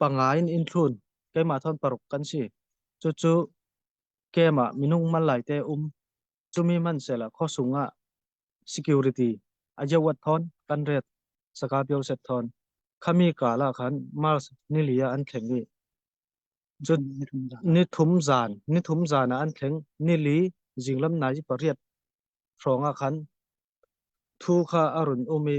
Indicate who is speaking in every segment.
Speaker 1: Panga in inthlun, keimah thawn paruk kan si. Cucu keimah minung man lai te um. Cumi hmanhsela khosung ah security ajawat thon kan ret saka pio set thon. Khami kala khan Mars nilia an thleng ni. Jun nithum zan, nithum zan an thleng nili jinglam nai pariat. Fronga khan thu kha arun umi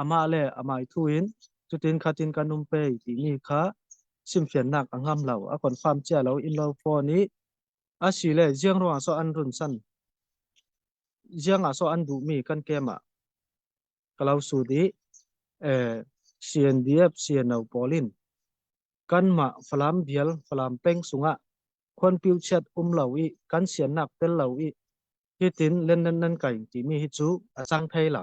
Speaker 1: amah le amah i thu in cutin khatin kan um pe timi kha chimfiannak a ngam lo a confirm cia lo in lo phone i asile jiang ruang so an run san jiang ah so an duh mi kan kem ah kalau su di eh CNDF CNO polin kanmah falam bial falam peng sunga khon piu chat um lo i kan sian nak tel lo i hitin len nan nan kai timi hi chu a sang thei la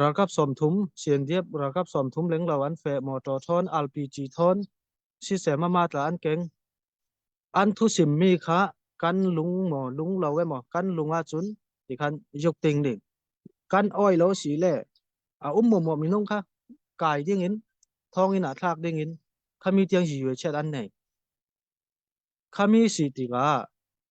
Speaker 1: Ralkap sawmthum, Siandiep ralkap sawmthum lenglo an feh mawṭaw ṭhawn alpi ci ṭhawn, siseh mamah tla an keng. An thu simmi kha kan lung maw lung lo emaw kan lung ahcun ti khan yuk ting ding. Kan oi lo si le a um mumua minung kha kai dingin thonginn ah thlak dingin khami tiang yue chiat an nei. Khami si tikah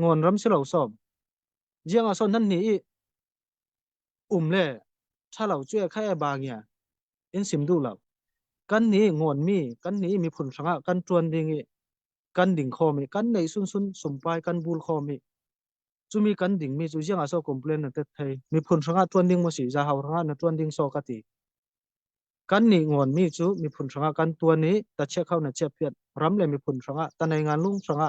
Speaker 1: ngon ram si lo som jiang a son nan ni i um le tha lo chu khai ba ngia in sim du lo kan ni ngon mi kan ni mi phun hranga kan tuan ding i kan ding khom i kan nei sun sun sumpai kan bul khom i chumi kan ding mi chu jiang a so complain na tet thei mi phun hranga tuan ding mo si ja hau hranga na tuan ding so ka ti kan ni ngon mi chu mi phun hranga kan tuan i ta che khau na che phiat ram le mi phun hranga ta nei ngan lung hranga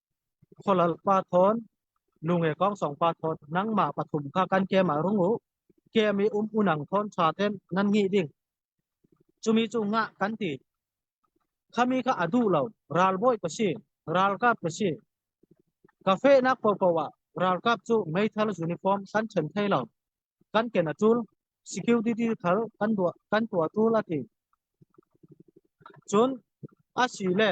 Speaker 1: Khualal pa thawn, lunge kongsong pa thawn, nangmah pathum kha kan kem ah rung u. Kem i um unang thawn ṭha ten nan ngih ding. Cumi cu ngah kan ti. Khami kha a duh lo. Ralbawi ka si. Ralkap ka si. Ka fehnak popo ah ralkap cu meithal uniform kan ṭhen thai lo. Kan ken a ṭul. Security thal kan tuah kan tuah ṭul a ti. Cun a si le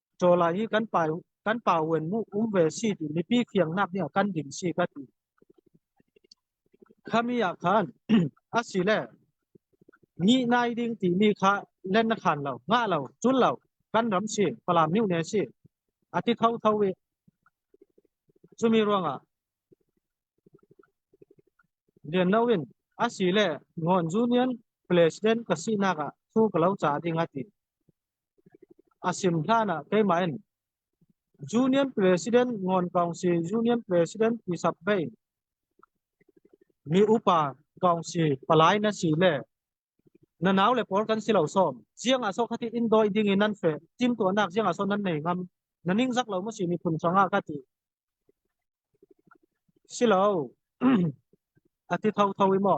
Speaker 1: Ṭawla hi kan pa kan pa uan mu um ve si ti mipi fiangnak nih a kan ding si ka ti. Khami ah khan asile ni nai ding timi kha len na khan lo nga lo chul lo kan ram si falam niu ne si ati tho tho we chumi ruangah lian loin asile ngon junior president ka sinak ah thu ka lo cha ding ati A sim hlan ah keimah in Union President Ngon Kongsi Union President Tisap Bei mi upa Kongsi palai na si le na nau le pawl kan si lo som jiang ah so khati in doi ding in nan fe tim tuah nak jiang ah so nan nei ngam na ning zak lo mu si mi phun sanga ka ti silo ati tho tho i mo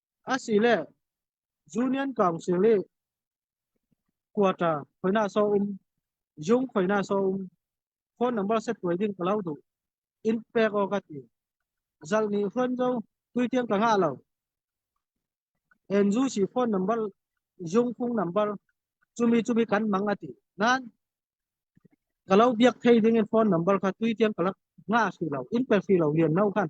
Speaker 1: Asile Union Council i quarter khoina so um yung khoina so um phone number set tuai ding ka lau du in pek o ka ti zal ni hron zo tui tiang ka nga lo en zu si phone number yung phung number chumi chumi kan mang ati nan kalau biak thei ding in phone number kha tui tiang kalak nga si lo in pe si lo hian no khan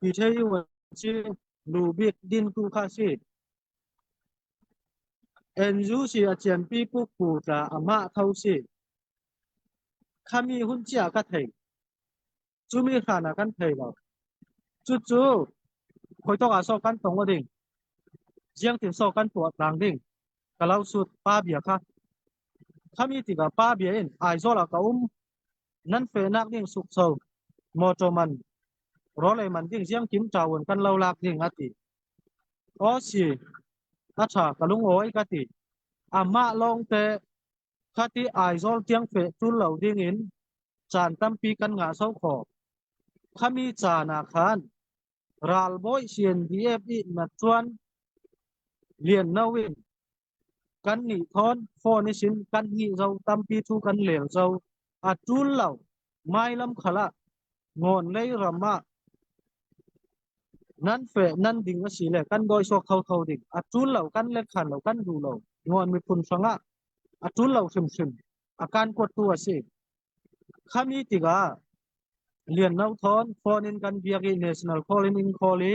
Speaker 1: Mi thei wan ci nu bik din tu kha si. Enzu si a cian pi puk pu tla amah tho si. Khami hun chia ka thei. Cu mi hrana kan thei lo. Cu cu khoitok ah so kan tong wa ding. Jiang tin so kan tuat lang ding. Kalau sut pa bia kha. Khami tika pa bia in ai zola ka um nan penak ding sukso motor man role man ding jiang kim tawun kan lo lak ding ati o si a tha ka lung oi ka ti amma long te khati aizol tiang fe tul lo ding in chan tampi kan nga so kho khami cha na khan ral boy sien df i na chuan lian nawin Kannih thawn phone i sin kan hih zong tampi cu kan leng zo. A ṭul lo. Mailam khal ah, Ngawn lei ram ah nan feh nan ding asile kan dawi sawk kho kho ding. A ṭul lo, kan letkhal lo, kan duh lo. Ngawn miphun hrangah a ṭul lo hrimhrim. A kan kuattu a si. Khami tikah Lian No Thawn phone in kan biak i national call in in call i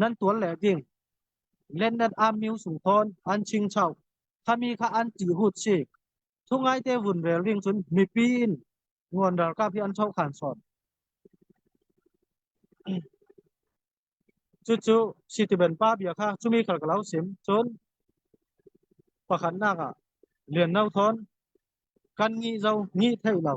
Speaker 1: nan tuan le ding Lenden Army sung thon an ching chau khami kha an ti hut si thu ngai te vun rel ring chun mipi in ngon ral ka bi an chau khan son chu chu sitiben pa bia kha chumi khal kalau sim chun pakhat na ka lian no thon kan ngi zo ngi thei lo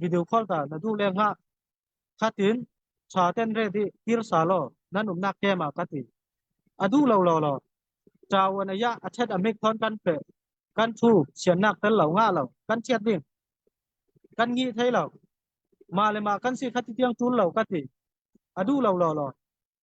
Speaker 1: video call ta na du le nga khatin tha ten re di tir sa lo nan um nak ke ma ka ti adu lo lo lo chawan aya athet amik thon kan pe kan thu sian nak tel lo nga lo kan chiat ding kan ngi thei lo ma le ma kan si khati tiang chul lo ka ti adu lo lo lo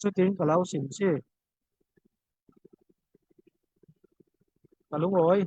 Speaker 1: Cutin ka lau sim si. Ka lungawi.